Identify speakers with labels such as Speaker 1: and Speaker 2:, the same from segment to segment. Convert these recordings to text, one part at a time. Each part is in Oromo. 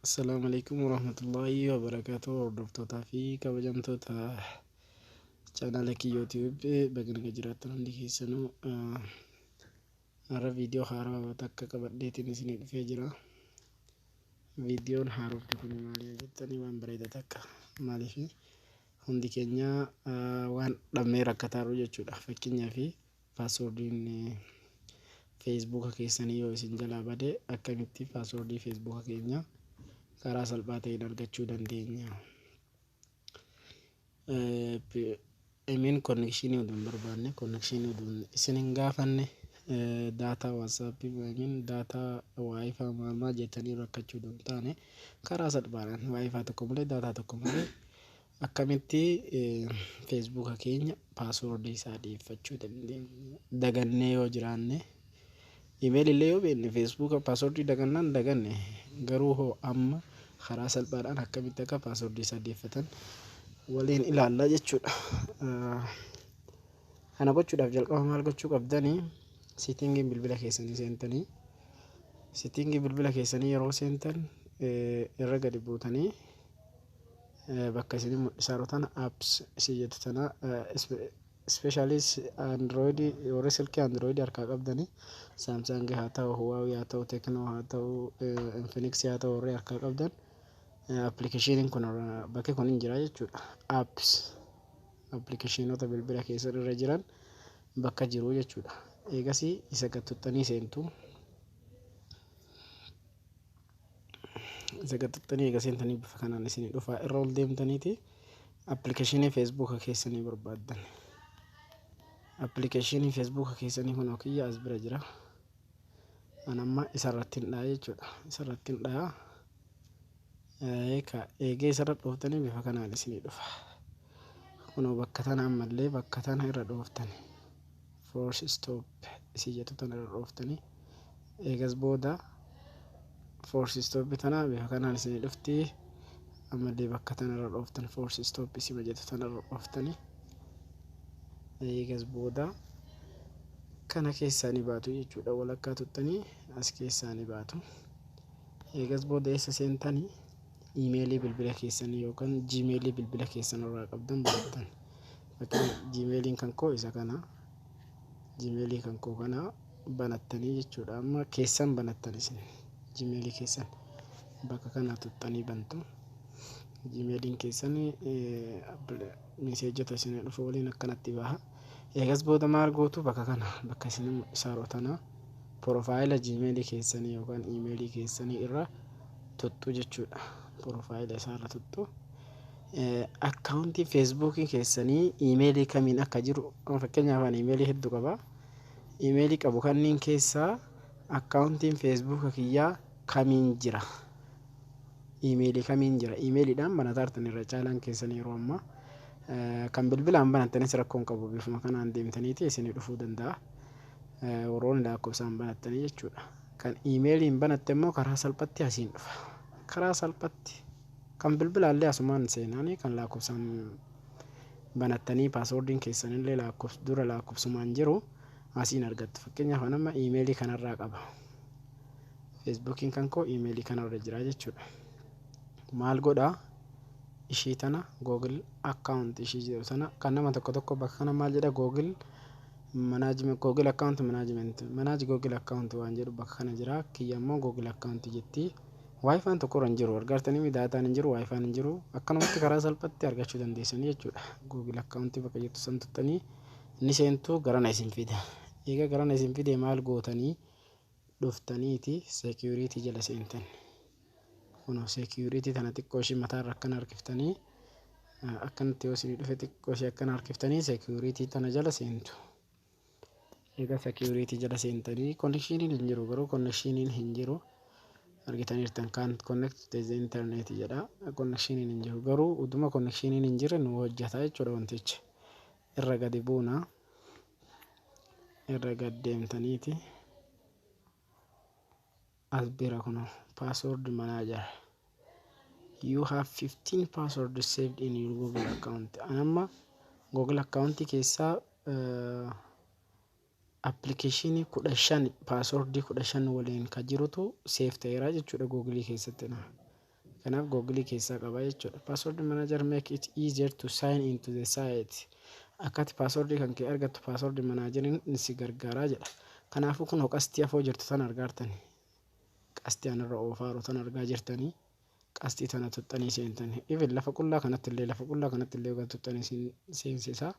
Speaker 1: Assalaamu alaikum warahmatullaahi wabarakaatu hordoftootaa fi kabajamtoota chaanaala kiyyootiiwwi baganama jiraattan hundi keessanuu har'a viidiyoo haarawaa takka qabadheetiin isinii dhufee jira. Viidiyoon haarofti kun maali yoo jettanii waan bareeda takka maaliif hundi keenya waan dhabnee rakkataa jirru jechuudha fakkeenyaaf Password'n Facebook keessanii yoo isin jalaa bade akkamitti password Facebook keenya karaa salphaa ta'een argachuu dandeenya? I mean connection utuu hin barbaanne connection utuu isin hin gaafanne daataa WhatsApp yookiin daataa Wi-Fi maal maal jettanii rakkachuu utuu hin taane karaa salphaadhaan Wi-Fi tokko malee daataa tokko malee Akkamitti Facebook keenya password isaa dhiyeeffachuu dandeenya? Dagannee yoo jiraanne, email illee yoo beekne Facebook password dagannaan daganne garuu hoo amma karaa salphaadhaan akkamitti akka password isaa deeffatan waliin ilaalla jechuudha. Kana gochuudhaaf jalqaba maal gochuu qabdanii? Settingii bilbila keessanii seentanii settingii bilbila keessanii yeroo seentan irra gadi buutanii bakka isin mul'isaaru tana apps isin jettu tana ispeeshaalii androidii warri silkii androidii harkaa qabdanii saamsaangii haa ta'u huwaawii haa ta'u teeknoo haa ta'u infiniksii haa ta'u warri harkaa qabdan appilikeeshiniin kun bakki kun hin jira jechuudha apps appilikeeshinoota bilbila keessan irra jiran bakka jiru jechuudha eegasii isa gattuttanii seentu. Isa gad tuqxanii eega seentanii bifa kanaan isinii dhufaa irra ol deemtaniiti appilikeeshinii feesbuuka keessanii barbaaddan. Appilikeeshinii feesbuuka keessanii kunoo kiyya as bira jira. An amma isarratti hin dha'a jechuudha. Isarratti hin dha'a. Eeka eegee isarra dhooftanii bifa kanaan isinii dhufa. Kunoo bakka tana ammallee bakka tana irra dhooftani. Force stop isii jettu tana irra dhooftani. Eegas booda force stop tana bifa kanaan isinii dhufti. Ammallee bakka tana irra dhooftan force stop isima jettu tana irra dhooftani. Eegas booda kana keessaa ni baatu jechuudha. Walakkaa tuttanii as keessaa ni baatu. Eegas booda eessa seentani? iimeelii bilbila keessanii yookaan jiimeelii bilbila keessan irraa qabdan banattan bakka jiimeeliin kan koo isa kana jiimeelii kan koo kana banattanii jechuudha amma keessan banattan isin jiimeelii keessan bakka kana tuxxanii bantu jiimeeliin keessan miseejota isin dhufu waliin akkanatti baha Eegas booda maal gootu bakka kana bakka isin saroo tana porofaayila jiimeelii keessanii yookaan iimeelii keessanii irra tuttu jechuudha. Porofaayila isaa irra tuttu. Akkaawuntii feesbuukii keessanii iimeelii kamiin akka jiru fakkeenyaaf ani iimeelii hedduu qaba. Iimeelii qabu kanneen keessaa akkaawuntiin feesbuuka kiyyaa kamiin jira Iimeelii kamiin jira? Iimeeliidhaan banataartan irra caalaan keessan yeroo ammaa. Kan bilbilaan banattanis rakkoo hin qabu bifuma kanaan deemtaniiti isinii dhufuu danda'a. Warroonni lakkoofsaan banattanii jechuudha. Kan iimeeliin banatte immoo karaa salphatti asiin dhufa. Karaa salphatti kan bilbilaallee asumaan seenaanii kan lakkoofsaan banattanii paaswoordiin keessanillee lakkoofs dura lakkoofsumaan jiru asiin argattu. Fakkeenyaaf anamma iimeelii kanarraa qaba. Feesbuukiin kan koo iimeelii kana irra jira jechuudha. Maal godhaa ishii tana Google account ishii jedhu sana kan nama tokko tokko bakka kana maal jedha Google management Google account management manage Google account waan jedhu bakka kana jira kiyya immoo Google account jetti. Waayifaan tokko irra hin jiru argaartanii daataan hin jiru waayifaan hin jiru akkanumatti karaa salphatti argachuu dandeessanii jechuudha. Google account bakka jettu san tuttanii ni seentu garana isin fida. Egaa garana isin fide maal gootanii? dhuftaniiti security jala seentan kuno security tana xiqqoo ishii mataa irra akkana harkiftanii akkanatti yoo isinii dhufe xiqqoo ishii akkana harkiftanii security tana jala seentu egaa security jala seentanii connectioniin hin jiru garuu connectioniin hin jiru argitaniirtan kan connect to the internet jedha connectioniin hin jiru garuu uduma connectioniin hin jirre nu hojjata jechuudha wantichi irra gadi buuna irra gad deemtaniiti as bira kuno password manager you have 15 password saved in your google account anamma google account keessaa uh, appilikeeshinii kudha shan paaswordii kudha shan waliin ka jirutu seef ta'eera jechuudha googilii keessatti na Kanaaf Google keessaa qaba jechuudha. Password Manager make it easier to sign into the site. Akkati password kan kee argattu password manager ni si gargaaraa jedha. Kanaafuu kun qastii afoo jirtu tan argaartani. Qastii anarra oofaaru tan argaa jirtanii. Qastii tana tuxxanii seentanii. Even lafa qullaa kanatti illee lafa qullaa kanatti illee kan tuxxanii seensisaa.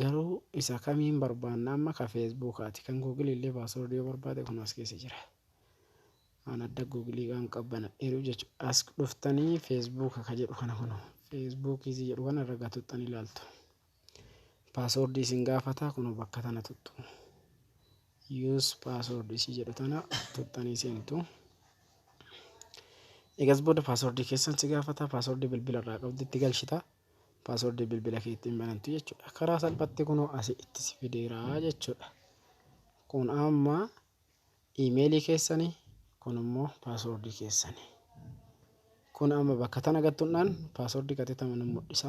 Speaker 1: Garuu isa kamiin barbaanna amma ka feesbuukaati kan googilii illee paaswordii yoo barbaade kun as keessa jira waan adda googilii waan qabbanadheeruuf jechuudha as dhuftanii feesbuuka ka jedhu kana kunoo feesbuukii si jedhu kana irra gatuxxan ilaaltu paaswordii isin gaafataa kunoo bakka tana tuxxu yuus paaswordii si jedhu tana tuxxanii seentu egas booda paaswordii keessan si gaafataa paaswordii bilbila irraa qabdu itti galchitaa paaswordii bilbila kee ittiin banattu jechuudha. Karaa salphatti kunoo asii itti si fideeraa jechuudha. Kun amma iimeelii keessani kun immoo paaswordii keessani. Kun amma bakka tana gattuudhaan paaswordii qaxitama nu mul'isa.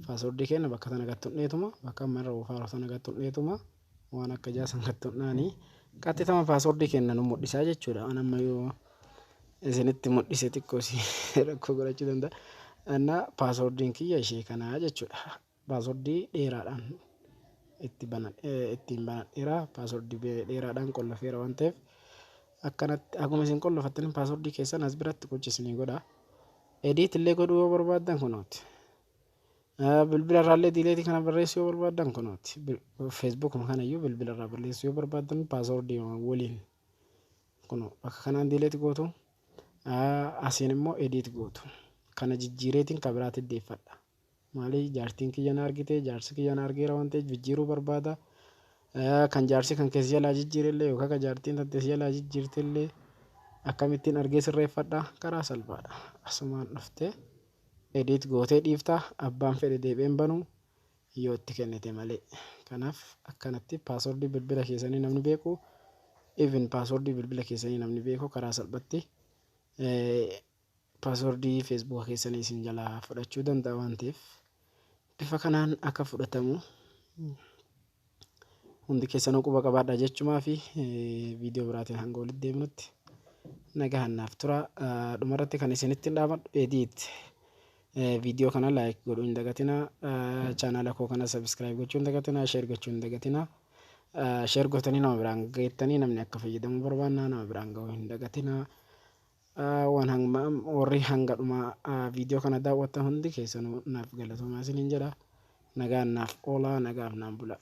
Speaker 1: Paaswordii keenya bakka tana gattuudheetuma bakka amma irra oofaaru tana gattuudheetuma. waan akka ijaa san kattuudhaani qaxxitama paaswordii kenna nu mudhisaa jechuudha an amma yoo isinitti mudhise xiqqoo si rakkoo godhachuu danda'a anna paaswordiin kiyya ishee kanaa jechuudha paaswordii dheeraadhaan itti banan ittiin banadheera paaswordii dheeraadhaan qollofeera waan ta'eef akkanatti akkuma isin qollofattaniin paaswordii keessan as biratti gocha isinii godha ediit illee godhuu yoo barbaaddan kunooti Bilbila irraallee diileetii kana barreessuu yoo barbaaddan kunooti. Feesbuukuma kana iyyuu bilbila irraa balleessuu yoo barbaaddan paasoordii waliin kun bakka kanaan diileeti gootu. Asiin immoo ediit gootu. Kana jijjiireetiin kan biraatti deeffadha. Maali jaartiin kiyya na argite jaarsi kiyya na argeera waan ta'eef jijjiiruu barbaada. Kan jaarsi kan keessa jalaa jijjiirellee yookaan kan jaartiin tantee jalaa jijjiirtellee akkamittiin argee sirreeffadha karaa salphaadha. Asumaan dhuftee. edit gootee dhiifta abbaan fedhe deebi'ee hin banu yoo itti kennite malee kanaaf akkanatti password bilbila keessanii namni beeku even password bilbila keessanii namni beeku karaa salphatti password facebook keessanii isin jalaa fudhachuu danda'a waan ta'eef bifa kanaan akka fudhatamu Hundi keessanuu quba qabaadhaa jechumaa fi viidiyoo biraatiin hanga walitti deemnutti nagahan naaf tura. Dhumarratti kan isinitti dhaamadhu edit viidiyoo kana laayik godhuu hin dagatinaa. Chaanaala koo kana sabiskiraayib gochuu hin dagatinaa. Sheer gochuu hin dagatinaa. Sheer gootanii nama biraan geettanii namni akka fayyadamu barbaannaa nama biraan ga'uu hin dagatinaa. Waan hangma warri hanga dhumaa video kana daawwattan hundi keessanuu naaf galatoomaa isiniin jedha. Nagaan naaf oolaa nagaaf naan bulaa.